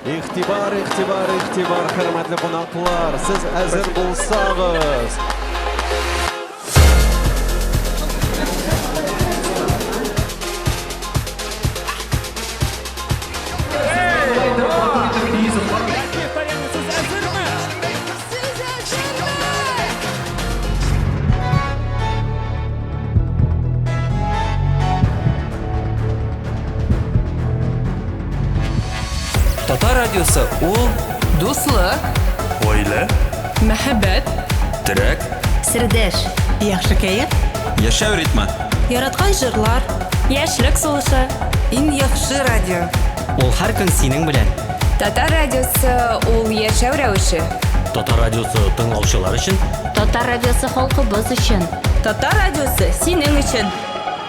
Игътибар, игътибар, игътибар, хөрмәтле кунаклар, сез әзер булсагыз. Татар радиосы ул Дуслык, Ойле, мәхәббәт, терәк, Сердәш. Яхшы кәеф. яшәү ритмы. Яраткан җырлар. Яшьлек сулышы. Иң яхшы радио. Ул һәр көн синең белән. Татар радиосы ул яшәү рәвеше. Татар радиосы тыңлаучылар өчен. Татар радиосы халкыбыз өчен. Татар радиосы синең өчен.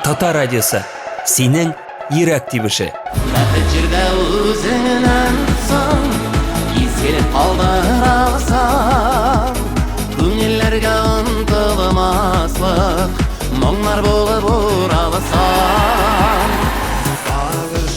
Татар радиосы синең йөрәк тибеше. Бәхет җирдә үзеңнән соң изге калдырасың. Күңелләргә онтылмаслык моңнар булып ураласың.